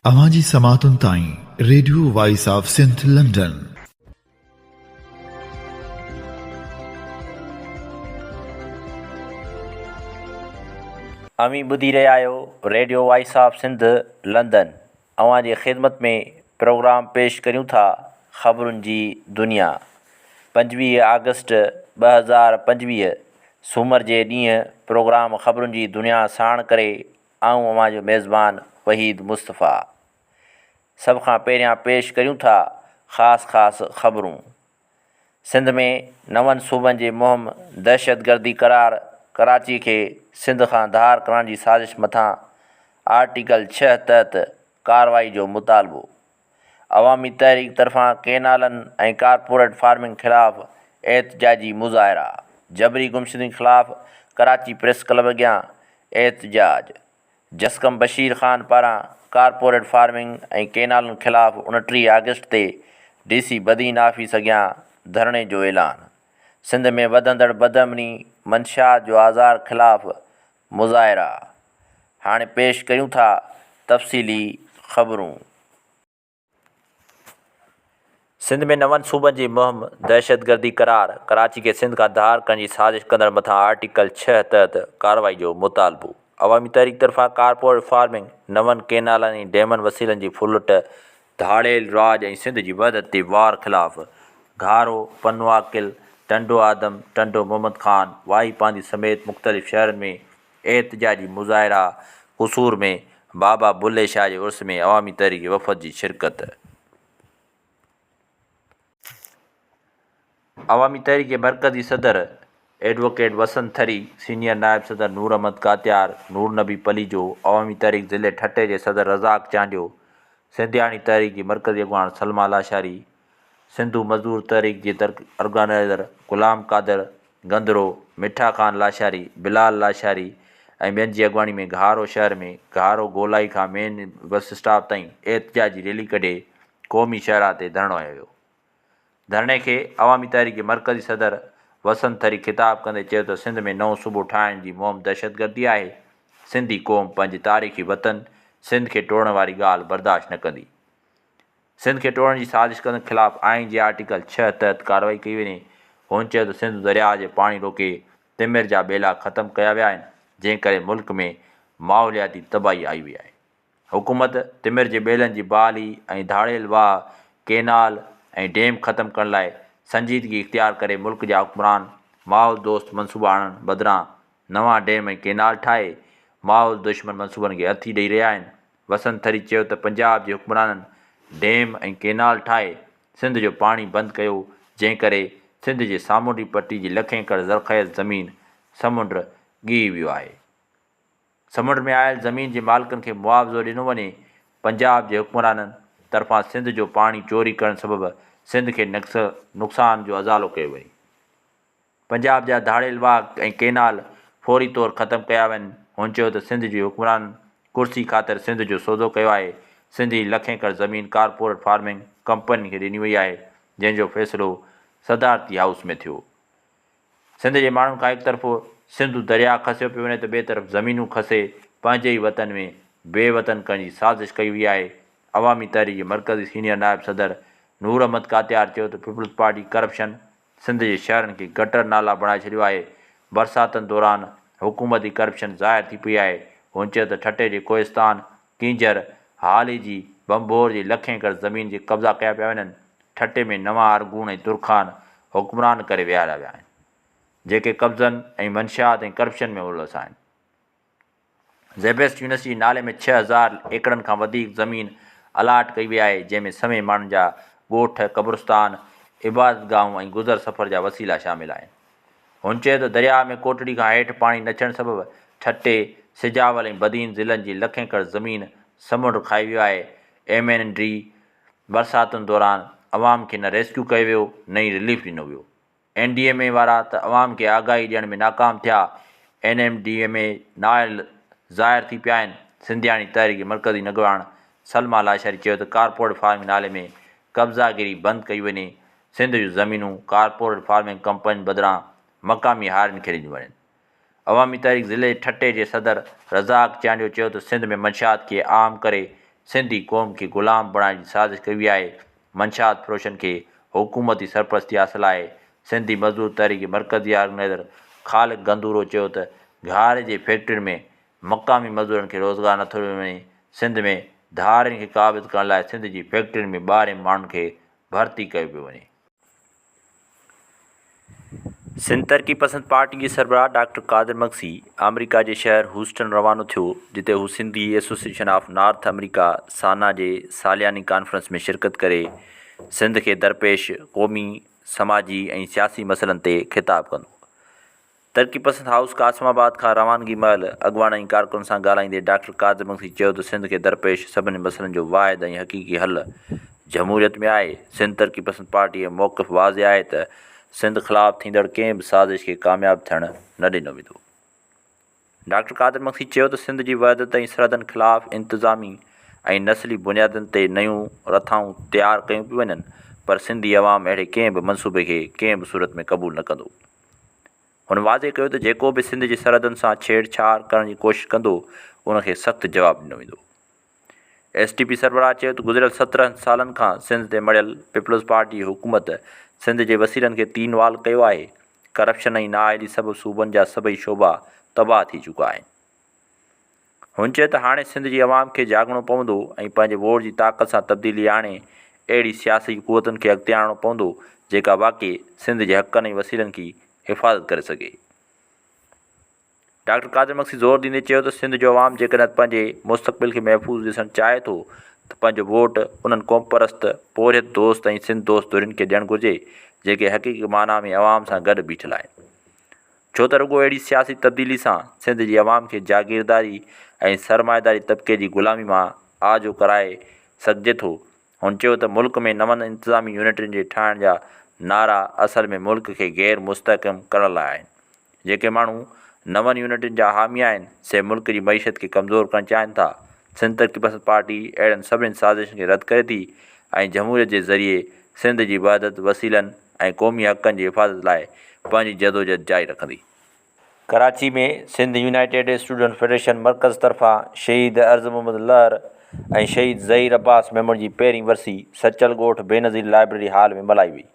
اوهان جي سماعتن تائين radio voice of Sindh London. اوهين ٻڌي رهيا آهيو radio voice of Sindh London اوهان جي خدمت ۾ پروگرام پيش ڪريون ٿا خبرن جي دنيا پنجويهه آگسٽ ٻه هزار پنجويهه سومر جي ڏينهن پروگرام خبرن جي دنيا ساڻ ڪري آئون اوهان جو ميزبان وحيد مصطفيٰ. سڀ کان پهريان پيش ڪريون ٿا خاص خاص خبرون. سنڌ ۾ نون صوبن جي مهم دهشتگردي قرار ڪراچي کي سنڌ کان ڌار ڪرڻ جي سازش مٿان آرٽيڪل ڇهه تحت ڪارروائي جو مطالبو. عوامي تحريڪ طرفان ڪينالن ۽ ڪارپوريٽ فارمنگ خلاف احتجاجي مظاهرا، جبري گمشدگين خلاف ڪراچي پريس ڪلب اڳيان احتجاج، جسقم بشير خان پاران ڪارپوريٽ فارمنگ ۽ ڪينالن خلاف اڻٽيهه آگسٽ تي ڊي سي بدين آفيس اڳيان ڌرڻي جو اعلان، سنڌ ۾ وڌندڙ بدامني، منشيات جو آزار خلاف مظاهرا هاڻي پيش ڪيون ٿا تفصيلي خبرون. سنڌ ۾ نون صوبن جي مهم دهشتگردي قرار، ڪراچي کي سنڌ کان ڌار ڪرڻ جي سازش ڪندڙن مٿان آرٽيڪل ڇهه تحت ڪارروائي جو مطالبو، عوامي تحريڪ طرفان ڪارپوريٽ فارمنگ، نون ڪينالن ۽ ڊيمن وسيلن جي ڦرلٽ ڌاڙيل راڄ ۽ سنڌ جي وحدت تي وار خلاف گهارو، پنو عاقل، ٽنڊو آدم، ٽنڊو محمد خان، واهي پانڌي سميت مختلف شهرن ۾ احتجاجي مظاهرا، قصور ۾ بابا بلهي شاهه جي عرس ۾ عوامي تحريڪي وفد جي شرڪت. عوامي تحريڪ جي مرڪزي صدر ايڊووڪيٽ وسند ٿري، سينيئر نائب صدر نور احمد ڪاتيار، نور نبي پليجو، عوامي تحريڪ ضلعي ٺٽي جي صدر رزاق چانڊيو، سنڌياڻي تحريڪ جي مرڪزي اڳواڻ سلميٰ لاشاري، سنڌو مزدور تحريڪ جي ارگنائيزر غلام قادر گندرو، مٺا خان لاشاري، بلال لاشاري ۽ ٻين جي اڳواڻي ۾ گهارو شهر ۾ گهارو گولائي کان مين بس اسٽاپ تائين احتجاجي ريلي ڪڍي قومي شاهراهه تي ڌرڻو هنيو ويو. ڌرڻي کي عوامي تحريڪ جي مرڪزي صدر وسند ٿري خطاب ڪندي چيو ته سنڌ ۾ نئون صوبو ٺاهڻ جي مهم دهشتگردي آهي، سنڌي قوم پنهنجي تاريخي وطن سنڌ کي ٽوڙڻ واري ڳالهه برداشت نه ڪندي. سنڌ کي ٽوڙڻ جي سازش ڪندڙن خلاف آئين جي آرٽيڪل ڇهه تحت ڪارروائي ڪئي وڃي. هن چيو ته سنڌو درياهه جي پاڻي روڪي تمر جا ٻيلا ختم ڪيا ويا آهن، جنهن ڪري ملڪ ۾ ماحولياتي تباهي آئي وئي آهي. حڪومت تمر جي ٻيلن جي بحالي ۽ ڌاڙيل واهه، ڪينال ۽ ڊيم ختم ڪرڻ لاء سنجيدگي اختيار ڪري ملڪ جا حڪمران ماحول دوست منصوبا آڻڻ بدران نوان ڊيم ۽ ڪينال ٺاهي ماحول دشمن منصوبن کي هٿي ڏئي رهيا آهن وسنت ٿري چيو ته پنجاب جي حڪمرانن ڊيم ۽ ڪينال ٺاهي سنڌ جو پاڻي بند ڪيو جنهن ڪري سنڌ جي سامونڊي پٽي جي لکين ايڪڙ زرخيز زمين سمنڊ ڳهي ويو آهي. سمنڊ ۾ آيل زمين جي مالڪن کي معاوضو ڏنو وڃي، پنجاب جي حڪمرانن طرفان سنڌ جو پاڻي چوري ڪرڻ سبب سنڌ کي نقصان جو ازالو ڪيو وڃي، پنجاب جا ڌاڙيل واهه ۽ ڪئنال فوري طور ختم ڪيا وڃن، هن چيو ته سنڌ جي حڪمرانن ڪرسي خاطر سنڌ جو سودو ڪيو آهي، سنڌ جي لک ايڪڙ زمين ڪارپوريٽ فارمنگ ڪمپنين کي ڏني وئي آهي، جنهن جو فيصلو صدارتي هائوس ۾ ٿيو. سنڌ جي ماڻهن کان هڪ طرف سنڌو درياء کسيو پيو وڃي ته ٻئي طرف زمينون کسي پنهنجي ئي وطن ۾ بي وطن ڪرڻ جي سازش ڪئي وئي آهي، عوامي تحريڪ جي مرڪزي سينيئر نائب صدر نور احمد ڪاتيار چيو ته پيپلز پارٽي ڪرپشن سنڌ جي شهرن کي گٽر نالا بڻائي ڇڏيو آهي، برساتن دوران حڪومت ئي ڪرپشن ظاهر ٿي پئي آهي، هن چيو ته ٺٽي جي ڪوهستان ڪينجهر، هالي جي، ڀنڀور جي لک ايڪڙ زمين جي قبضا ڪيا پيا وڃن، ٺٽي ۾ نوان ارغون ۽ ترخان حڪمران ڪري ويهاريا ويا آهن، جيڪي قبضن ۽ منشيات ۽ ڪرپشن ۾ ملوث آهن. زيبيسٽ يونيورسٽي جي نالي ۾ ڇهه هزار ايڪڙن کان وڌيڪ زمين الاٽ ڪئي وئي آهي، جنهن ۾ سوين ماڻهن جا ڳوٺ، قبرستان، عبادت گاهون ۽ گذر سفر جا وسيلا شامل آهن. هن چيو ته درياهه ۾ ڪوٽڙي کان هيٺ پاڻي نه ٿيڻ سبب ٺٽي، سجاول ۽ بدين ضلعن جي لک ايڪڙ زمين سمنڊ کائي ويو آهي، ايم اين ڊي برساتن دوران عوام کي نه ريسڪيو ڪيو ويو نه ئي رليف ڏنو ويو، اين ڊي ايم اي وارا ته عوام کي آگاهي ڏيڻ ۾ ناڪام ٿيا، N M D M A نااهل ظاهر ٿي پيا آهن، سنڌياڻي تحريڪ جي مرڪزي نگهبان سلمه لاشاري چيو ته ڪارپوريٽ فارمنگ نالي ۾ قبضا گيري بند ڪئي وڃي، سنڌ جون زمينون ڪارپوريٽ فارمنگ ڪمپنين بدران مقامي هارين کي ڏنيون وڃن. عوامي تحريڪ ضلعي ٺٽي جي صدر رزاق چانڊيو چيو ته سنڌ ۾ منشيات کي عام ڪري سنڌي قوم کي غلام بڻائڻ جي سازش ڪئي وئي آهي، منشيات فروشن کي حڪومتي سرپرستي حاصل آهي، سنڌي مزدور تحريڪ مرڪزي آرگنائيزر خالق گندورو چيو ته گهاري جي فيڪٽرين ۾ مقامي مزدورن کي روزگار نٿو ڏنو وڃي، سنڌ ۾ ڌارين کي قابض ڪرڻ لاء سنڌ جي فيڪٽرين ۾ ٻاهرين ماڻهن کي ڀرتي ڪيو پيو وڃي. سنڌ ترقي پسند پارٽي جي سربراهه ڊاڪٽر قادر مگسي آمريڪا جي شهر هوسٽن روانو ٿيو جتي هو Sindhi association of North America, SANA, جي سالياني ڪانفرنس ۾ شرڪت ڪري سنڌ کي درپيش قومي، سماجي ۽ سياسي مسئلن تي خطاب ڪندو. ترقي پسند هائوس قاسم آباد کان روانگي مهل اڳواڻن ۽ ڪارڪنن سان ڳالهائيندي ڊاڪٽر قادر مگسي چيو ته سنڌ کي درپيش سڀني مسئلن جو واحد ۽ حقيقي حل جمهوريت ۾ آهي، سنڌ ترقي پسند پارٽي جو موقف واضح آهي ته سنڌ خلاف ٿيندڙ ڪنهن به سازش کي ڪامياب ٿيڻ نه ڏنو ويندو. ڊاڪٽر قادر مگسي چيو ته سنڌ جي وحدت ۽ سرحدن خلاف انتظامي ۽ نسلي بنيادن تي نيون رٿائون تيار ڪيون پيون وڃن پر سنڌي عوام اهڙي ڪنهن به منصوبي کي ڪنهن به صورت ۾ قبول نه ڪندو. هن واضح ڪيو ته جيڪو به سنڌ جي سرحدن سان ڇيڙ ڇاڙ ڪرڻ جي ڪوشش ڪندو ان کي سخت جواب ڏنو ويندو. ايس ٽي پي سربراهه چيو ته گذريل سترهن سالن کان سنڌ تي مڙهيل پيپلز پارٽي جي حڪومت سنڌ جي وسيلن کي تين وال ڪيو آهي، ڪرپشن ۽ نااهلي سبب صوبن جا سڀئي شعبا تباهه ٿي چڪا آهن. هن چيو ته هاڻي سنڌ جي عوام کي جاڳڻو پوندو ۽ پنهنجي ووٽ جي طاقت سان تبديلي آڻي اهڙي سياسي قوتن کي اڳتي آڻڻو پوندو جيڪا واقعي سنڌ جي حقن ۽ وسيلن کي حفاظت ڪري سگهي. ڊاڪٽر قادر مگسي زور ڏيندي چيو ته سنڌ جو عوام جيڪڏهن پنهنجي مستقبل کي محفوظ ڏسڻ چاهي ٿو ته پنهنجو ووٽ انهن قومپرست، پورهيت دوست ۽ سنڌ دوست ڌرين کي ڏيڻ گهرجي جيڪي حقيقي معنيٰ ۾ عوام سان گڏ بيٺل آهن. ڇو ته رڳو اهڙي سياسي تبديلي سان سنڌ جي عوام کي جاگيرداري ۽ سرمائيداري طبقي جي غلامي مان آجو ڪرائي سگهجي ٿو. هن چيو ته ملڪ ۾ نون انتظامي يونٽن جي ٺاهڻ جا نعرا اصل ۾ ملڪ کي غير مستحڪم ڪرڻ لاء آهن. جيڪي ماڻهو نون يونٽن جا حامي آهن سي ملڪ جي معيشت کي ڪمزور ڪرڻ چاهين ٿا. سنڌ ترقي پسند پارٽي اهڙن سڀني سازشن کي رد ڪري ٿي ۽ جمهوريت جي ذريعي سنڌ جي وحدت، وسيلن ۽ قومي حقن جي حفاظت لاء پنهنجي جدوجهد جاري رکندي. Karachi ۾ Sindh united students federation مرڪز طرفان شهيد عرض محمد لهر ۽ شهيد ظهير عباس ميمڻ جي پهرين ورسي سچل ڳوٺ بينظير لائبريري هال ۾ ملهائي وئي.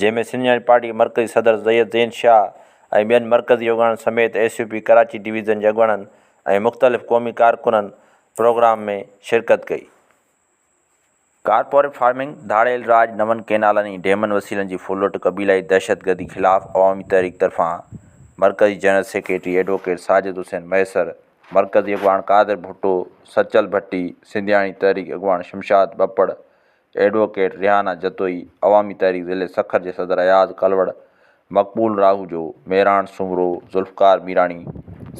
جنهن ۾ سنڌ يونائيٽيڊ پارٽي جي مرڪزي صدر سيد زين شاهه ۽ ٻين مرڪزي يوگڙن سميت S U P Karachi division جي اڳواڻن ۽ مختلف قومي ڪارڪنن پروگرام ۾ شرڪت ڪئي. ڪارپوريٽ فارمنگ، ڌاڙيل راڄ، نون ڪينالن ۽ ڊيمن وسيلن جي ڦرلٽ، قبيلائي دهشتگردي خلاف عوامي تحريڪ طرفان مرڪزي general secretary advocate Sajid Hussain Mahesar, مرڪزي اڳواڻ قادر ڀٽو، سچل ڀٽي، سنڌياڻي تحريڪ اڳواڻ شمشاد ٻپڙ، ايڊووڪيٽ ريحانه جتوئي، عوامي تحريڪ ضلعي سکر جي صدر اياز ڪلوڙ، مقبول راهوجو، مهراڻ سومرو، ذوالفقار ميراڻي،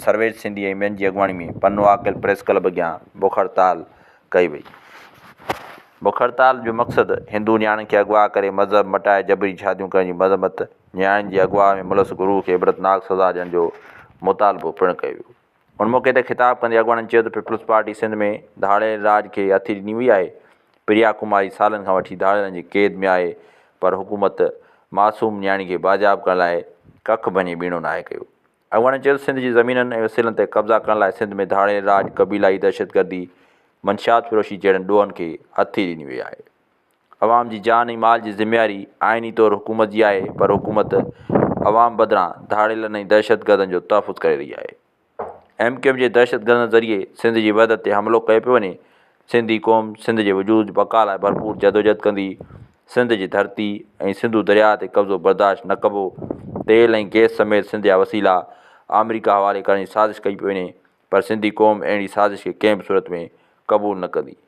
سرويچ سنڌي ۽ ٻين جي اڳواڻي ۾ پنو عاقل پريس ڪلب اڳيان بک هڙتال ڪئي وئي. بک هڙتال جو مقصد هندو نياڻين کي اغوا ڪري مذهب مٽائي جبري شاديون ڪرڻ جي مذمت، نياڻين جي اغوا ۾ ملس گروهه کي عبرتناڪ سزا ڏيڻ جو مطالبو پڻ ڪيو ويو. ان موقعي تي خطاب ڪندي اڳواڻن چيو ته پيپلز پارٽي سنڌ ۾ ڌاڙيل راڄ کي هٿي ڏني هئي آهي، پريا ڪماري سالن کان وٺي ڌاڙيلن جي قيد ۾ آهي پر حڪومت معصوم نياڻي کي بازياب ڪرڻ لاء ڪک ڀڃي ٻيڻو ناهي ڪيو. اڳواڻن چيو ته سنڌ جي زمينن ۽ وسيلن تي قبضا ڪرڻ لاء سنڌ ۾ ڌاڙيل راڄ، قبيلائي دهشتگردي، منشيات فروشي جهڙن ڏوهن کي هٿي ڏني وئي آهي. عوام جي جان ۽ مال جي ذميواري آئيني طور حڪومت جي آهي پر حڪومت عوام بدران ڌاڙيلن ۽ دهشتگردن جو تحفظ ڪري رهي آهي. ايم ڪيو ايم جي دهشتگردن ذريعي سنڌ جي وحدت تي حملو ڪيو پيو وڃي، سنڌي قوم سنڌ جي وجود بقا لاء ڀرپور جدوجهد ڪندي، سنڌ جي ڌرتي ۽ سنڌو درياهه تي قبضو برداشت نه ڪبو، تيل ۽ گيس سميت سنڌ جا وسيلا آمريڪا حوالي ڪرڻ جي سازش ڪئي پئي وڃي پر سنڌي قوم اهڙي سازش کي ڪنهن به صورت ۾ قبول نه ڪندي.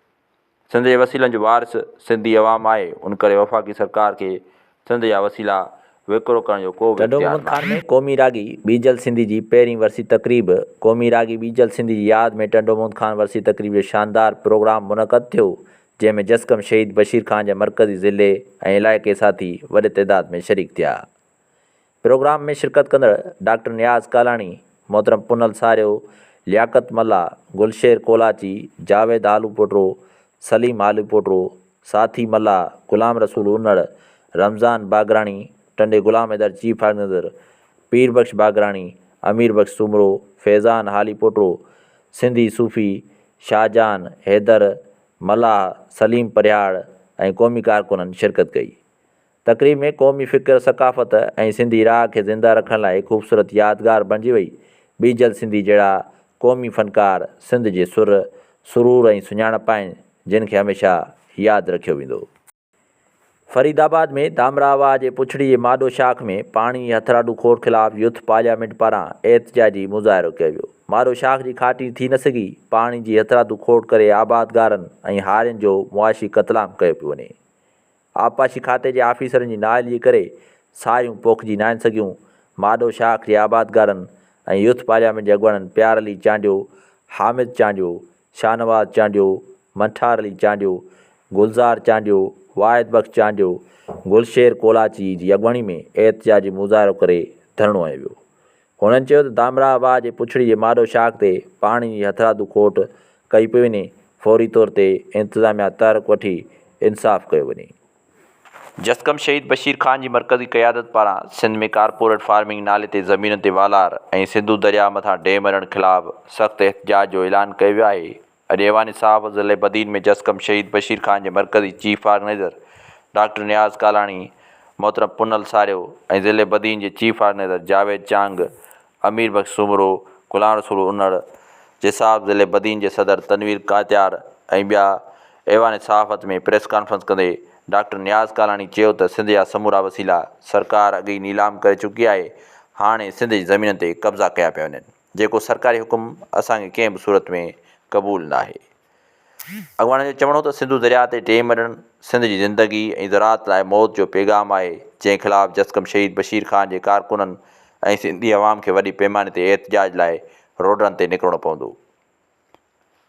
سنڌ جي وسيلن جو وارث سنڌي عوام آهي، ان ڪري وفاقي سرڪار کي سنڌ جا وسيلا وڪرو ڪرڻ جو ڪو به اختيار ناهي. ٽنڊومنگل خان ۾ قومي راڳي بيجل سنڌي جي پهرين ورسي تقريب، قومي راڳي بيجل سنڌي جي ياد ۾ ٽنڊومنگل خان ورسي تقريب جو شاندار پروگرام منعقد ٿيو، جنهن ۾ جسقم شهيد بشير خان جا مرڪزي ضلعي ۽ علائقي ساٿي وڏي تعداد ۾ شريڪ ٿيا. پروگرام ۾ شرڪت ڪندڙ ڊاڪٽر نياز ڪالاڻي، محترم پنهل ساريو، لياقت ملاح، گلشير ڪولاچي، جاويد آلوپوٽرو، سليم آلوپوٽرو، ساٿي ملاح، غلام رسول انڙ، رمضان باگراڻي، ٽنڊي غلام حيدر چيف آرگنائيزر، پير بخش باگراڻي، امير بخش سومرو، فيضان هاليپوٽرو، سنڌي صوفي، شاهجهان، حيدر، ملاح، سليم پرهياڙ ۽ قومي ڪارڪنن شرڪت ڪئي. تقريب ۾ قومي فڪر، ثقافت ۽ سنڌي راء کي زنده رکڻ لاء هڪ خوبصورت يادگار بڻجي وئي. ٻيجل سنڌي جهڙا قومي فنڪار سنڌ جي سر، سرور ۽ سڃاڻپ آهن، جن کي هميشه ياد رکيو ويندو. فريد آباد ۾ ڌامراهه واهه جي پڇڙي جي ماڏو شاخ ۾ پاڻي جي هٿراڏو کوڙ خلاف يوٿ پارليامينٽ پاران احتجاجي مظاهرو ڪيو ويو. ماڏو شاخ جي کاٽي ٿي نه سگهي، پاڻي جي هٿراڏو کوڙ ڪري آبادگارن ۽ هارين جو معاشي قتلام ڪيو پيو وڃي. آبپاشي کاتي جي آفيسرن جي نااهلي ڪري ساهيون پوکجي ناهن سگهيون، ماڏو شاخ جي آبادگارن ۽ يوٿ پارليامينٽ جي اڳواڻن پيار علي چانڊيو، حامد چانڊيو، شاهنواز چانڊيو، منٺار علي چانڊيو، گلزار چانڊيو، واحد بخش چانڊيو، گلشير ڪولاچي جي اڳواڻي ۾ احتجاجي مظاهرو ڪري ڌرڻو هنيو ويو، هنن چيو ته دامراهه واهه جي پڇڙي جي ماڏو شاخ تي پاڻي جي هٿرادو کوٽ ڪئي پئي وڃي، فوري طور تي انتظاميا تحرڪ وٺي انصاف ڪيو وڃي. جسقم شهيد بشير خان جي مرڪزي قيادت پاران سنڌ ۾ ڪارپوريٽ فارمنگ نالي تي زمينن تي والار ۽ سنڌو درياهه مٿان ڊيم هڻڻ خلاف سخت احتجاج جو اعلان ڪيو ويو آهي، اڄ ايوان صحافت ضلعي بدين ۾ جس ڪم شهيد بشير خان جي مرڪزي chief organiser doctor Niaz Kalani, محترم پونل ساريو ۽ ضلعي بدين جي چيف آرگنائيزر جاويد چانگ، امير بخش سومرو، غلام رسول انڙ، جساف ضلعي بدين جي صدر تنوير ڪاتيار ۽ ٻيا ايوان صحافت ۾ پريس ڪانفرنس ڪندي ڊاڪٽر نياز ڪالاڻي چيو ته سنڌ جا سمورا وسيلا سرڪار اڳ ئي نيلام ڪري چڪي آهي هاڻي سنڌ جي زمينن تي قبضا ڪيا پيا وڃن. جيڪو سرڪاري حڪم اسان کي ڪنهن به صورت ۾ قبول ناهي. اڳواڻن جو چوڻ هو ته سنڌو درياء تي ٽي مرڻ سنڌ جي زندگي ۽ زراعت لاء موت جو پيغام آهي جنهن خلاف جسقم شهيد بشير خان جي ڪارڪنن ۽ سنڌي عوام کي وڏي پيماني تي احتجاج لاء روڊن تي نڪرڻو پوندو.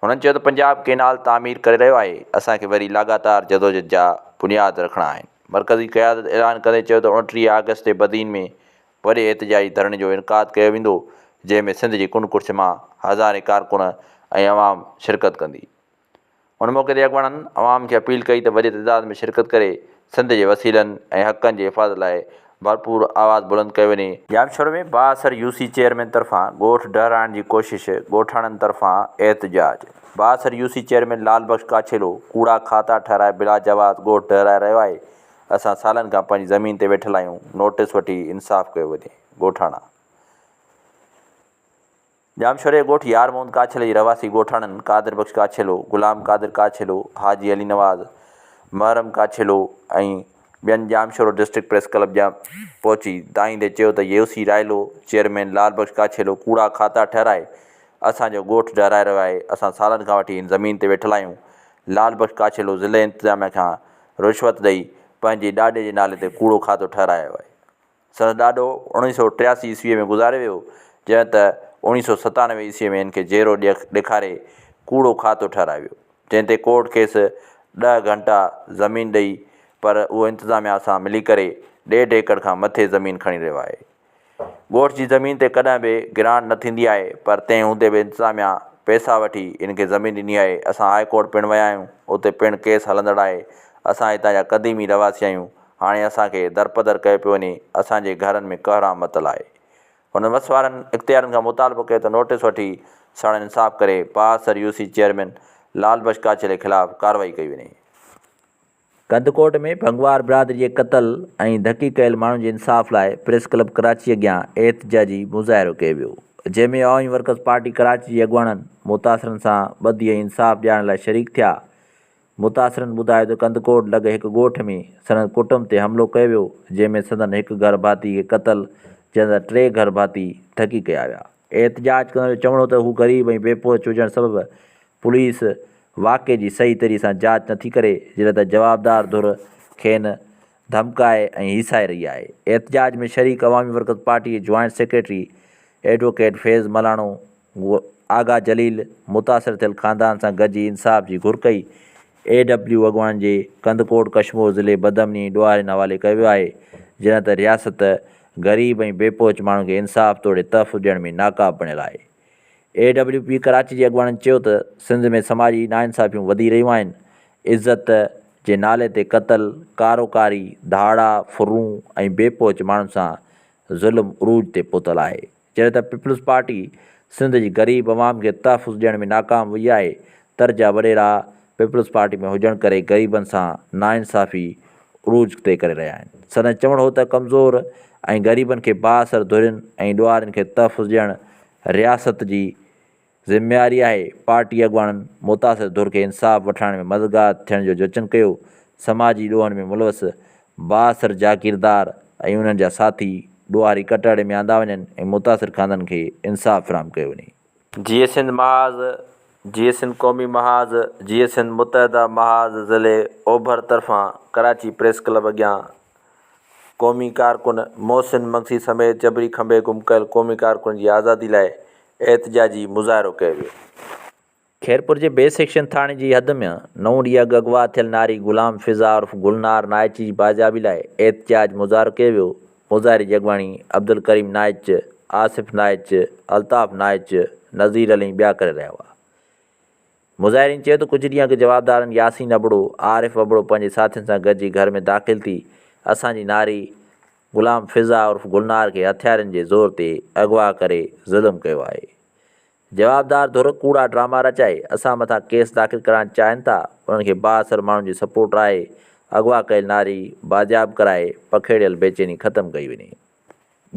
هنن چيو ته پنجاب ڪينال تعمير ڪري رهيو آهي، اسان کي وري لاڳاتار جدوجھد جا بنياد رکڻا آهن. مرڪزي قيادت اعلان ڪندي چيو ته اوڻٽيهه آگسٽ تي بدين ۾ وڏي احتجاجي ڌرڻي جو انعقاد ڪيو ويندو، جنهن ۾ سنڌ جي ڪنڊ ڪڙڇ مان هزارين ڪارڪن ۽ عوام شرڪت ڪندي. ان موقعي تي اڳواڻن عوام کي اپيل ڪئي ته وڏي تعداد ۾ شرڪت ڪري سنڌ جي وسيلن ۽ حقن جي حفاظت لاء ڀرپور آواز بلند ڪيو وڃي، ڄامشوري ۾ بااثر يو سي چيئرمين طرفان ڳوٺ ڊهرائڻ جي ڪوشش، ڳوٺاڻن طرفان احتجاج، بااثر U C chairman Lal Bux Kachhelo ڪوڙا کاتا ٺهرائي بلا جواز ڳوٺ ڊهرائي رهيو آهي، اسان سالن کان پنهنجي زمين تي ويٺل آهيون، نوٽيس وٺي انصاف ڪيو وڃي، ڳوٺاڻا. ڄامشوري ڳوٺ يار محمد ڪاڇلي جي رهواسي ڳوٺاڻن قادر بخش ڪاڇلو، غلام قادر ڪاڇلو، حاجي علي نواز، محرم ڪاڇلو ۽ ٻين ڄامشورو ڊسٽرڪٽ پريس ڪلب جا پهچي دانهين ڏئي چيو ته يوسي رائلو چيئرمين لال بخش ڪاڇلو ڪوڙا کاتا ٺهرائي اسان جو ڳوٺ ڊهرائي رهيو آهي، اسان سالن کان وٺي هن زمين تي ويٺل آهيون، لال بخش ڪاڇلو ضلعي انتظاميا کان رشوت ڏئي پنهنجي ڏاڏي جي نالي تي ڪوڙو کاتو ٺهرايو آهي. سندس ڏاڏو اوڻيھ سؤ ٽياسي عيسويء ۾ گذاري ويو، جنھن ته اوڻيھ سؤ ستانوي عيسويء ۾ ھن کي جيئرو ڏيکاري ڪوڙو کاتو ٺھرائي ويو، جنھن تي ڪورٽ کيس ڏھ گھنٽا زمين ڏئي، پر اھو انتظاميا سان ملي ڪري ڏيڍ ايڪڙ کان مٿي زمين کڻي رھيو آھي. ڳوٺ جي زمين تي ڪڏھن به گرانٽ نه ٿيندي آھي، پر تنھن ھوندي به انتظاميا پئسا وٺي ھن کي زمين ڏني آھي. اسان ھاء ڪورٽ پڻ ويا آھيون، اتي پڻ ڪيس ھلندڙ آھي. اسان ھتان جا قديمي رھواسي آھيون، هاڻي اسان کي درپدر ڪيو پيو وڃي، اسان جي گهرن ۾ ڪهرام متل آهي. هن وس وارن اختيارين کان مطالبو ڪيو ته نوٽيس وٺي سڻ انصاف ڪري پاهسر U C chairman Lal Bux ڪاڇيلي خلاف ڪارروائي ڪئي وڃي. ڪنڌڪوٽ ۾ ڀنگوار برادري جي قتل ۽ ڌڪي ڪيل ماڻهن جي انصاف لاء پريس ڪلب ڪراچي اڳيان احتجاجي مظاهرو ڪيو ويو، جنهن ۾ عوامي ورڪرز پارٽي ڪراچي جي اڳواڻن متاثرن سان ٻڌي ۽ انصاف ڏيارڻ لاء شريڪ ٿيا. متاثرن ٻڌايو ته ڪنڌڪوٽ لڳ هڪ ڳوٺ ۾ سندن ڪٽنب تي حملو ڪيو ويو جنهن ۾ سندن هڪ گهر ڀاتي کي قتل جڏهن ته ٽي گهر ڀاتي ڌڪي ڪيا ويا. احتجاج ڪندڙن جو چوڻ هو ته هو غريب ۽ بي پهچ هجڻ سبب پوليس واقعي جي صحيح طريقي سان جاچ نٿي ڪري جڏهن ته جوابدار ڌر کين ڌمڪائي ۽ هيسائي رهي آهي. احتجاج ۾ شريڪ عوامي ورڪرز پارٽي جي joint secretary advocate Faiz Malano هو آغا جليل متاثر ٿيل خاندان سان گڏجي انصاف جي گهر ڪئي. اي ڊبليو اڳواڻن جي ڪنڌڪوٽ ڪشمور ضلعي بدامني ۽ ڏوهارين حوالي ڪيو ويو آهي، جڏهن ته رياست غريب ۽ بي پهچ ماڻهن کي انصاف توڙي تحفظ ڏيڻ ۾ ناڪاب بڻيل آهي. اي ڊبليو پي ڪراچي جي اڳواڻن چيو ته سنڌ ۾ سماجي ناانصافيون وڌي رهيون آهن، عزت جي نالي تي قتل، ڪارو ڪاري، ڌاڙا، ڦرون ۽ بي پهچ ماڻهن سان ظلم عروج تي پهتل آهي. جڏهن ته پيپلز پارٽي سنڌ جي غريب عوام کي تحفظ ڏيڻ ۾ ناڪام وئي آهي، تر جا وڏيرا پيپلز پارٽي ۾ هجڻ ڪري غريبن سان ناانصافي عروج تي ڪري رهيا آهن. سندن چوڻ هو ته ڪمزور ۽ غريبن کي بااثر ڌرين ۽ ڏوهارين کي تحفظ ڏيڻ رياست جي ذميواري آهي پارٽي اڳواڻن متاثر ڌر کي انصاف وٺرائڻ ۾ مددگار ٿيڻ جو جچن ڪيو، سماجي ڏوهن ۾ ملوث بااثر جاگيردار ۽ انهن جا ساٿي ڏوهاري ڪٽهڙي ۾ آندا وڃن ۽ متاثر خاندن کي انصاف فراهم ڪيو وڃي. جيئي سنڌ محاذ، جيئي سنڌ قومي محاذ، جيئي سنڌ متحده محاذ ضلعي اوڀر طرفان ڪراچي پريس ڪلب اڳيان قومي ڪارڪن محسن مگسي سميت جبري کنڀي گم ڪيل قومي ڪارڪنن جي آزادي لاء احتجاجي مظاهرو ڪيو ويو. خيرپور جي بي سيڪشن ٿاڻي جي حد ۾ نو ڏينهن اڳ اغوا ٿيل ناري غلام فضا عرف گلنار نائچ جي بازيابي لاء احتجاج مظاهرو ڪيو ويو، مظاهري جي اڳواڻي عبدالڪريم نائچ، آصف نائچ، الطاف نائچ، نذير علي ۽ ٻيا ڪري رهيا هئا. مظاهرين چيو ته ڪجهه ڏينهن اڳ جوابدارن ياسين ابڙو، عارف ابڙو پنهنجي ساٿين سان گڏجي گهر ۾ داخل ٿي اسان جي ناري غلام فضا عرف گلنار کي هٿيارين جي زور تي اغوا ڪري ظلم ڪيو آهي. جوابدار ڌر ڪوڙا ڊراما رچائي اسان مٿان ڪيس داخل ڪرائڻ چاهين ٿا، انهن کي بااثر ماڻهن جي سپورٽ آهي، اغوا ڪيل ناري بازياب ڪرائي پکيڙيل بيچيني ختم ڪئي وڃي.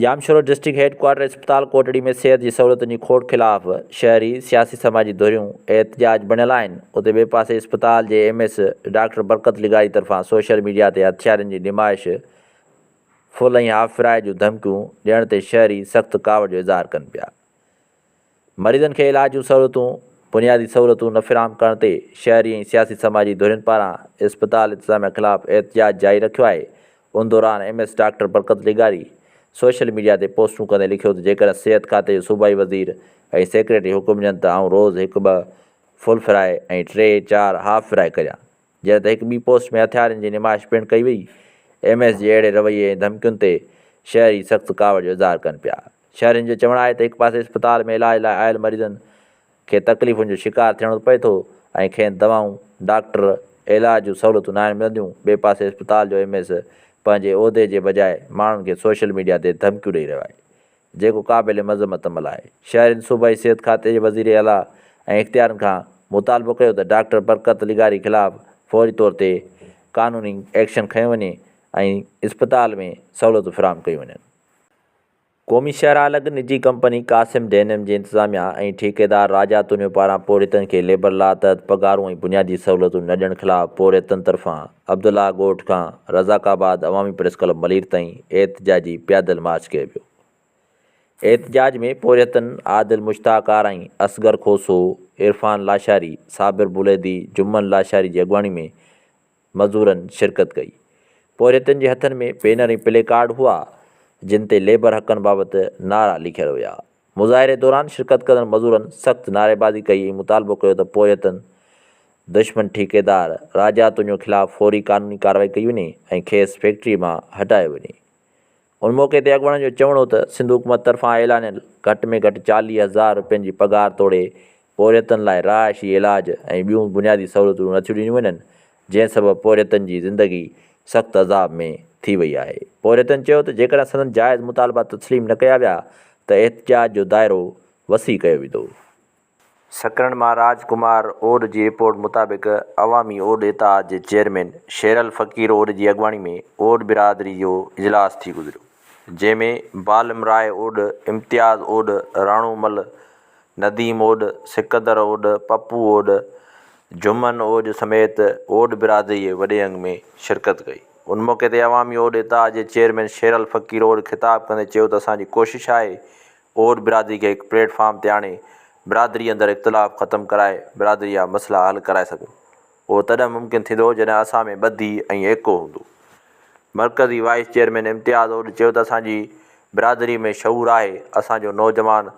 ڄامشورو ڊسٽرڪٽ هيڊ ڪوارٽر اسپتال ڪوٽڙي ۾ صحت جي سهولتن جي کوٽ خلاف شهري، سياسي سماجي ڌريون احتجاج بڻيل آهن، اتي ٻئي پاسي اسپتال جي ايم ايس ڊاڪٽر برڪت لغاري طرفان سوشل ميڊيا تي هٿيارن جي نمائش، ڦل ۽ هاف فرائي جون ڌمڪيون ڏيڻ تي شهري سخت ڪاوڙ جو اظهار ڪن پيا. مريضن کي علاج جون سهولتون، بنيادي سهولتون نه فراهم ڪرڻ تي شهري ۽ سياسي سماجي ڌرين پاران اسپتال انتظاميا خلاف احتجاج جاري رکيو آهي، ان دوران ايم ايس ڊاڪٽر برڪت لغاري سوشل ميڊيا تي پوسٽون ڪندي لکيو ته جيڪڏهن صحت کاتي جو صوبائي وزير ۽ سيڪريٽري حڪم ڏين ته آئون روز هڪ ٻه فل فرائي ۽ ٽي چار هاف فرائي ڪريان. جڏهن ته هڪ ٻي پوسٽ ۾ هٿيارن جي نمائش پڻ ڪئي وئي. ايم ايس جي اهڙي رويي ۽ ڌمڪين تي شهري سخت ڪاوڙ جو اظهار ڪن پيا. شهرين جو چوڻ آهي ته هڪ پاسي اسپتال ۾ علاج لاء آيل مريضن کي تڪليفن جو شڪار ٿيڻو پئي ٿو ۽ کين دوائون، ڊاڪٽر ۽ علاج جون سهولتون ناهن ملنديون، ٻئي پاسي اسپتال جو ايم ايس پنهنجي عهدي جي بجاء ماڻهن کي سوشل ميڊيا تي ڌمڪيون ڏئي رهيو آهي. جيڪو قابل مذمت عمل آهي. شهرين صوبائي صحت کاتي جي وزير اعليٰ ۽ اختيارين کان مطالبو ڪيو ته ڊاڪٽر برڪت لغاري خلاف فوري طور تي قانوني ايڪشن کنيو وڃي ۽ اسپتال ۾ سهولتون فراهم ڪيون وڃن. قومي شهرالڳ نجي ڪمپني قاسم ڊينم جي انتظاميا ۽ ٺيڪيدار راجا تونيو پاران پورهيتن کي ليبر لا تحت پگهارون ۽ بنيادي سهولتون نه ڏيڻ خلاف پورهيتن طرفان عبدالله ڳوٺ کان Razzaqabad Awami press club Malir تائين احتجاجي پيادل مارچ ڪيو ويو. احتجاج ۾ پورهيتن عادل مشتاق آرائين، اصغر کوسو، عرفان لاشاري، صابر بليدي، جمن لاشاري جي اڳواڻي ۾ مزورن شرڪت ڪئي. پورهيتن جي هٿن ۾ بينر ۽ پلي ڪارڊ هئا، جن تي ليبر حقن بابت نعرا لکيل هيا. مظاهري دوران شرڪت ڪندڙ مزورن سخت نعريبازي ڪئي ۽ مطالبو ڪيو ته پويتن دشمن ٺيڪيدار راجا تونيو خلاف فوري قانوني ڪارروائي ڪئي وڃي ۽ کيس فيڪٽري مان هٽايو وڃي. ان موقعي تي اڳواڻن جو چوڻ هو ته سنڌ حڪومت طرفان اعلانيل گهٽ ۾ گهٽ چاليهه هزار روپين جي پگهار توڙي پورهيتن لاء رهائشي، علاج ۽ ٻيون بنيادي سهولتون نه ٿيون ڏنيون وڃن، جنهن سبب پورهيتن جي زندگي سخت عذاب ۾ ٿي وئي آهي. پورهيتن چيو ته جيڪڏهن سندن جائز مطالبا تسليم نه ڪيا ويا ته احتجاج جو دائرو وسيع ڪيو ويندو. سڪرنڊ مان راج ڪمار اوڏ جي رپورٽ مطابق عوامي اوڏ اتحاد جي چيئرمين شيرل فقير اوڏ جي اڳواڻي ۾ اوڏ برادري جو اجلاس ٿي گذريو، جنهن ۾ بالم راء اوڏ، امتياز اوڏ، راڻو مل، نديم اوڏ، سڪندر اوڏ، پپو اوڏ، جھمن اوڄ سميت اوڏ برادريء وڏي انگ ۾ شرڪت ڪئي. ان موقعي تي عوامي اوڏ اتحاد جي چيئرمين شيرعلي فقير اوڏ خطاب ڪندي چيو ته اسان جي ڪوشش آهي اوڏ برادري کي هڪ پليٽ فارم تي آڻي برادري اندر اختلاف ختم ڪرائي برادري جا مسئلا حل ڪرائي سگهون. اهو تڏهن ممڪن ٿيندو جڏهن اسان ۾ ٻڌي ۽ ايڪو هوندو. مرڪزي وائيس چيئرمين امتياز اوڏ چيو ته اسان جي برادري ۾ شعور آهي، اسان جو نوجوان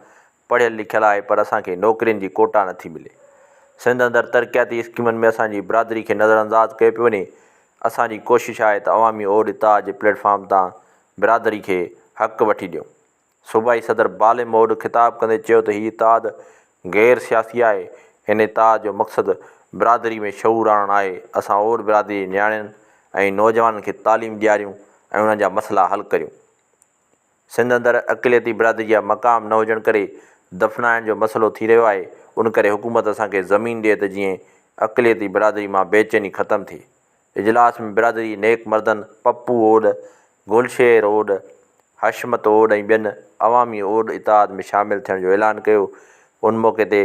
پڙهيل لکيل آهي پر اسان کي نوڪرين جي ڪوٽا نٿي ملي. سنڌ اندر ترقياتي اسڪيمن ۾ اسان جي برادري کي نظر انداز ڪيو پيو وڃي، اسان جي ڪوشش آهي ته عوامي اوڏ تاء جي پليٽ فارم تان برادري کي حق وٺي ڏيون. صوبائي صدر بالي موڊ خطاب ڪندي چيو ته هي اتحاد غير سياسي آهي، ان اتحاد جو مقصد برادري ۾ شعور آڻڻ آهي، اسان اور برادري جي نياڻين ۽ نوجوانن کي تعليم ڏياريون ۽ انهن جا مسئلا حل ڪريون، سنڌ اندر اقليتي برادري جا مقام نه هجڻ ڪري دفنائڻ جو مسئلو ٿي رهيو آهي، ان ڪري حڪومت اسان کي زمين ڏي ته جيئن اقليتي برادري مان بيچيني ختم ٿئي. اجلاس ۾ برادري نيڪ مردن پپو اوڏ، گل شير اوڏ، حشمت اوڏ ۽ ٻين عوامي اوڏ اتحاد ۾ شامل ٿيڻ جو اعلان ڪيو. ان موقعي تي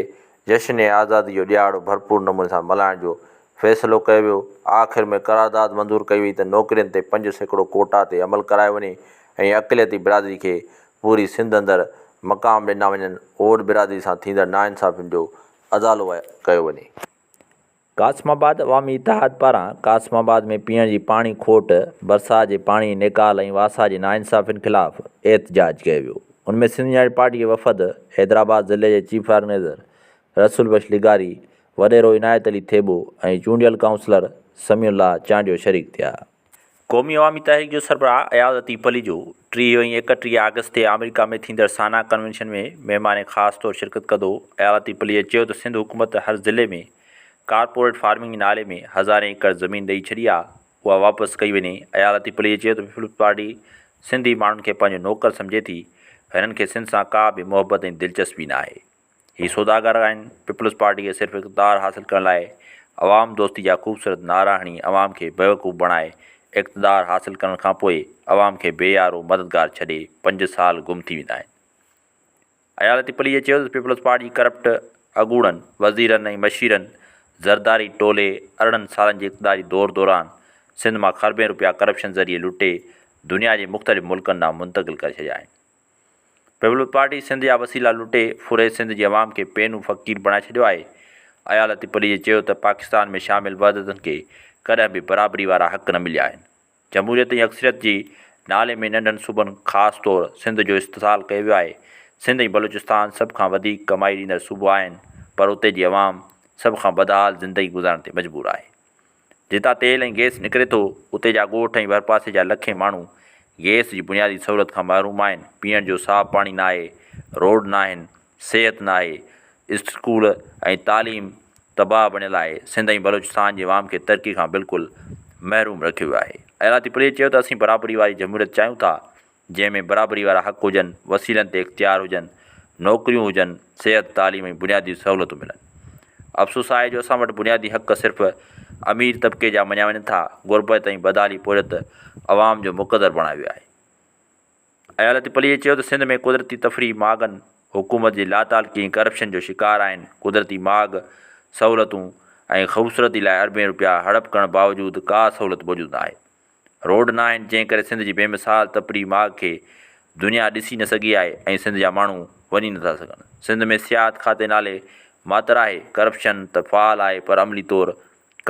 جشن آزادي جو ڏيهاڙو ڀرپور نموني سان ملهائڻ جو فيصلو ڪيو ويو. آخر ۾ قرارداد منظور ڪئي وئي ته نوڪرين تي پنج سيڪڙو ڪوٽا تي عمل ڪرايو وڃي ۽ اقليتي برادري کي پوري سنڌ اندر مقام ڏنا وڃن، اوڏ برادري سان ٿيندڙ ناانصافين جو ازالو ڪيو وڃي. قاسم آباد عوامي اتحاد پاران قاسم آباد ۾ پيئڻ جي پاڻي کوٽ، برسات جي پاڻي نيڪال ۽ واسا جي ناانصافين خلاف احتجاج ڪيو ويو، ان ۾ سنڌ يونائيٽيڊ پارٽي جي وفد، حيدرآباد ضلعي جي چيف آرگنائيزر رسول بخش لغاري، وڏيرو عنايت علي ٿيٻو ۽ چونڊيل ڪائونسلر سميع الله چانڊيو شريڪ ٿيا. قومي عوامي تحريڪ جو سربراهه اياز عتيق پليجو ٽيهه ۽ ايڪٽيهه آگسٽ تي آمريڪا ۾ ٿيندڙ سانا ڪنوينشن ۾ مهمان خاص طور شرڪت ڪندو، اياز عتيق پليجي چيو ته سنڌ حڪومت هر ضلعي ۾ ڪارپوريٽ فارمنگ جي نالي ۾ هزارين ايڪڙ زمين ڏئي ڇڏي آ اها واپس ڪئي وڃي، اياز عتيق پليجي چيو ته پيپلز پارٽي سنڌي ماڻهن کي پنهنجو نوڪر سمجهي ٿي، هنن کي سنڌ سان ڪا به محبت ۽ دلچسپي ناهي. هي سوداگر آهن، پيپلز پارٽي کي صرف اقتدار حاصل ڪرڻ لاء عوام دوستي جا خوبصورت نعرا هڻي عوام کي بيوقوف بڻائي اقتدار حاصل ڪرڻ کان پوء عوام کي بي يارو مددگار ڇڏي پنج سال گم ٿي ويندا آهن. عيالتي پليجي چيو ته پيپلز پارٽي ڪرپٽ اڳوڻن وزيرن ۽ مشيرن زرداري ٽولي ارڙهن سالن جي اقتداري دور دوران سنڌ مان کربين روپيا ڪرپشن ذريعي لٽي دنيا جي مختلف ملڪن ڏانهن منتقل ڪري ڇڏيا آهن. پيپلز پارٽي سنڌ جا وسيلا لٽي ڦري سنڌ جي عوام کي پينو فقير بڻائي ڇڏيو آهي. ايا لطيف پليجي چيو ته پاڪستان ۾ شامل وحدتن کي ڪڏهن به برابري وارا حق نه مليا آهن. جمهوريت ۽ اڪثريت جي نالي ۾ ننڍن صوبن خاص طور سنڌ جو استحصال ڪيو ويو آهي. سنڌ ۽ بلوچستان سڀ کان وڌيڪ ڪمائي ڏيندڙ صوبو آهن پر اتي جي عوام سڀ کان بدحال زندگي گذارڻ تي مجبور آهي. جتان تيل ۽ گئس نڪري ٿو، اتي جا ڳوٺ ۽ ڀرپاسي جا لکين ماڻهو گئس جي بنيادي سهولت کان محروم آهن، پيئڻ جو صاف پاڻي ناهي، روڊ ناهن، صحت ناهي، اسٽڪول ۽ تعليم تباهه بڻيل آهي، سنڌ ۽ بلوچستان جي عوام کي ترقي کان بلڪل محروم رکيو ويو آهي. ايالاطيف عليء چيو ته اسين برابري واري جمهوريت چاهيون ٿا، جنهن ۾ برابري وارا حق هجن، وسيلن تي اختيار هجن، نوڪريون هجن، صحت، تعليم ۽ بنيادي سهولتون ملن. افسوس آهي جو اسان وٽ بنيادي حق صرف امير طبقي جا مڃيا وڃن ٿا، غربت ۽ بدحالي پورهيت عوام جو مقدر بڻايو ويو آهي. عيالت پليجي چيو ته سنڌ ۾ قدرتي تفريح ماڳن حڪومت جي لاتعلقي ۽ ڪرپشن جو شڪار آهن، قدرتي ماڳ، سهولتون ۽ خوبصورتي لاء اربين روپيا هڙپ ڪرڻ باوجود ڪا سهولت موجود ناهي. روڊ ناهن جنهن ڪري سنڌ جي بي مثال تپري ماڳ کي دنيا ڏسي نه سگهي آهي ۽ سنڌ جا ماڻهو وڃي نٿا سگهن. سنڌ ۾ سياحت کاتي نالي ماتر آهي، ڪرپشن ته فعال آهي پر عملي طور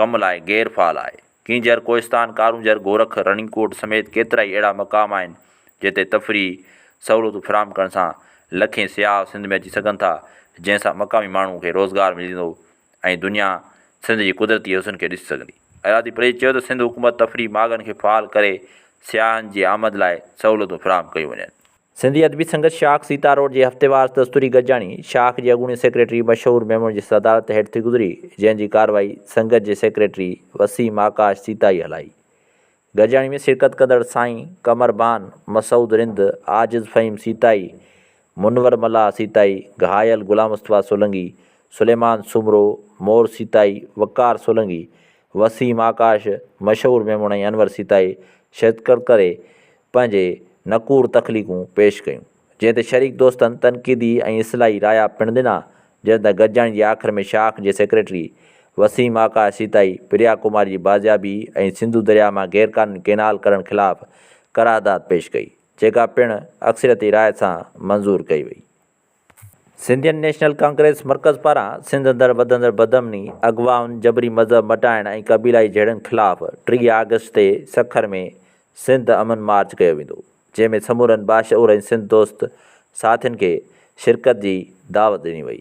ڪم لاء غير فعال آهي. ڪينجهر، ڪوهستان، ڪارونجهر، گورک، رڻي ڪوٽ سميت ڪيترائي اهڙا مقام آهن جتي تفريحي سهولتون فراهم ڪرڻ سان لکين سياح سنڌ ۾ اچي سگهن ٿا جنهن سان مقامي ماڻهو کي روزگار ملندو. ۽ دنيا سنڌ جي قدرتي حسن کي ڏسي سگهندي. ايرادي پريز چيو ته سنڌ حڪومت تفريح ماڳن کي فعال ڪري سياحن جي آمد لاء سهولتون فراهم ڪيون وڃن. سنڌي ادبي سنگت شاخ سيتا روڊ جي هفتيوار دستوري گڏجاڻي شاخ جي اڳوڻي سيڪريٽري مشهور ميمڻ جي صدارت هيٺ ٿي گذري جنهن جي ڪارروائي سنگت جي سيڪريٽري وسيم آڪاش سيتائي هلائي گڏجاڻي ۾ شرڪت ڪندڙ سائين قمر بان، مسعود رند، عاجز فهيم سيتائي، منور ملاح سيتائي، گهايل غلام مصطفيٰ سولنگي، سليمان سومرو، مور سيتائي، وقار سولنگي، وسيم آڪاش، مشهور ميمڻ ۽ انور سيتائي شرڪت ڪري پنهنجي نڪور تخليقون پيش ڪيون. جنهن تي شريڪ دوستن تنقيدي ۽ اصلاحي رايا پڻ ڏنا، جڏهن ته گڏجاڻي جي آخر ۾ شاخ جي سيڪريٽري وسيم آڪاش سيتائي پريا ڪمار جي بازيابي ۽ سنڌو درياء مان غيرقانوني ڪينال ڪرڻ خلاف قرارداد پيش ڪئي، جيڪا پڻ اڪثريتي راء سان منظور ڪئي وئي. سنڌين نيشنل ڪانگريس مرڪز پاران سنڌ اندر وڌندڙ بدامني، اغوائن، جبري مذهب مٽائڻ ۽ قبيلائي جهيڙن خلاف ٽيهه آگسٽ تي سکر ۾ سنڌ امن مارچ ڪيو ويندو. جنهن ۾ سمورن باشعور ۽ سنڌ دوست ساٿين کي شرڪت جي دعوت ڏني وئي.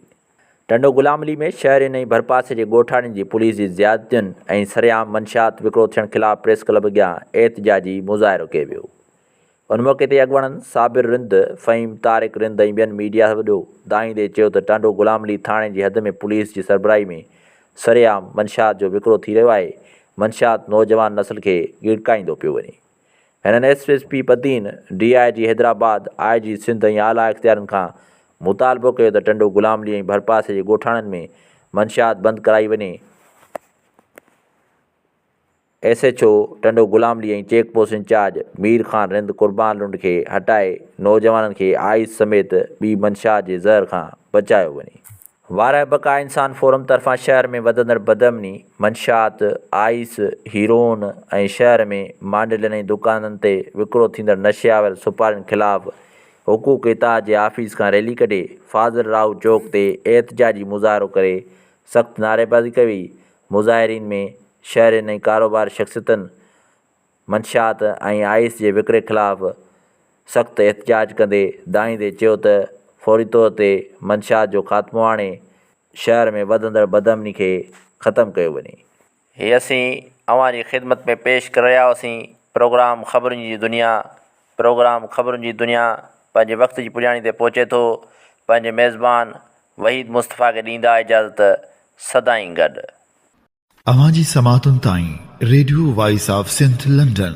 ٽنڊو غلام علي ۾ شهرين ۽ ڀرپاسي جي ڳوٺاڻين جي پوليس جي زيادتين ۽ سرعام منشيات وڪرو ٿيڻ خلاف پريس ڪلب اڳيان احتجاجي مظاهرو ڪيو ويو. ان موقعي تي اڳواڻن صابر رند، فهيم طارق رند ۽ ٻين ميڊيا وڏو دانهيندي چيو ته ٽنڊو غلام علي ٿاڻي جي حد ۾ پوليس جي سربراهي ۾ سرعام منشيات جو وڪرو ٿي رهيو آهي، منشيات نوجوان نسل کي ڳڙڪائيندو پيو وڃي. هنن S S P Badin, D I G Hyderabad, I G Sindh ۽ اعليٰ اختيارين کان مطالبو ڪيو ته ٽنڊو غلام علي ۽ ڀرپاسي جي ڳوٺاڻن ۾ منشيات بند ڪرائي وڃي. S H O Tando Ghulam Ali ۽ check post incharge Mir Khan Rind Qurban Lund کي هٽائي نوجوانن کي آئس سميت ٻي منشيات جي زهر کان بچايو وڃي. وارهه بقا انسان فورم طرفان شهر ۾ وڌندڙ بدامني، منشيات، آئيس، هيروئن ۽ شهر ۾ مانڊلين ۽ دڪانن تي وڪرو ٿيندڙ نشي آور سپارين خلاف حقوق اتحاد جي آفيس کان ريلي ڪڍي فاضل راهو چوڪ تي احتجاجي مظاهرو ڪري سخت نعريبازي ڪئي وئي، مظاهرين ۾ شهرين ۽ ڪاروبار شخصيتن. منشيات ۽ آئيس جي وڪري خلاف سخت احتجاج ڪندي دانهيندي چيو ته فوري طور تي منشيات جو خاتمو آڻي شهر ۾ وڌندڙ بدامني کي ختم ڪيو وڃي. هي اسين اوهان جي خدمت ۾ پيش ڪري رهيا هئاسين پروگرام خبرن جي دنيا پروگرام خبرن جي دنيا پنهنجي وقت جي پڄاڻي تي پهچي ٿو پنهنجي ميزبان وحيد مصطفيٰ کي ڏيندا اجازت سدائين گڏ. اوهان جي سماعتن تائين radio voice of Sindh London.